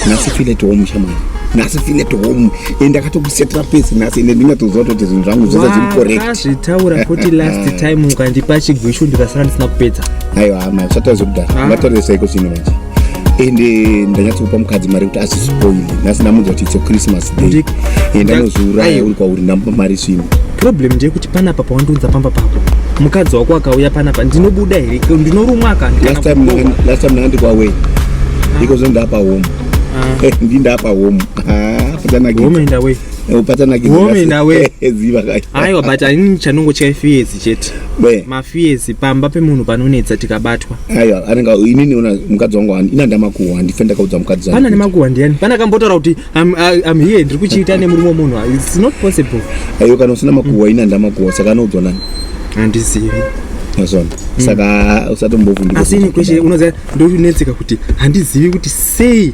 nhasi file to home shamwari nhasi file to home and akatokusetera pese nhasi ende ndingatoziva kuti zvinhu zvangu zvese zviri correct zvitaura kuti last time ukandipa chigwishu ndikasara ndisina kupedza aiwa hama usatarise kudaro ah. ungatarise saiko zvino manje ende eh, ndanyatsokupa mukadzi mari kuti asispoili nhasi ndamunzwa kuti itso christmas day eh, ndanozviuraya uri kwauri ndamupa mari zvino problem ndeyekuti panapa pawandiunza pamba pako mukadzi wako akauya panapa ndinobuda here ndinorumwa akalast time ndanga ndikwawei ah. iko zve ndapa home ah. eh, ndindapa home patanakihome ndawe patanakihome ndawe ziva aiwa but anini chanongo chaifiyezi chete Be. mafiyesi pamba pemunhu panonetsa tikabatwa aiwa anenge inini ona mukadzi wangu hani ina ndamakuhwa handife ndakaudza mukadzi zangu pana kuti- nemakuhwa ndiyani pana kambotaura kuti I'm, I- I'm here ndiri kuchiita nemurume wemunhu its not possible aiwa kana usina makuhwa ina ndamakuhwa saka anoudzwa nani handizivi mazona saka usatombovundika asi ini kweshe unoziva ndonetseka kuti handizivi kuti sei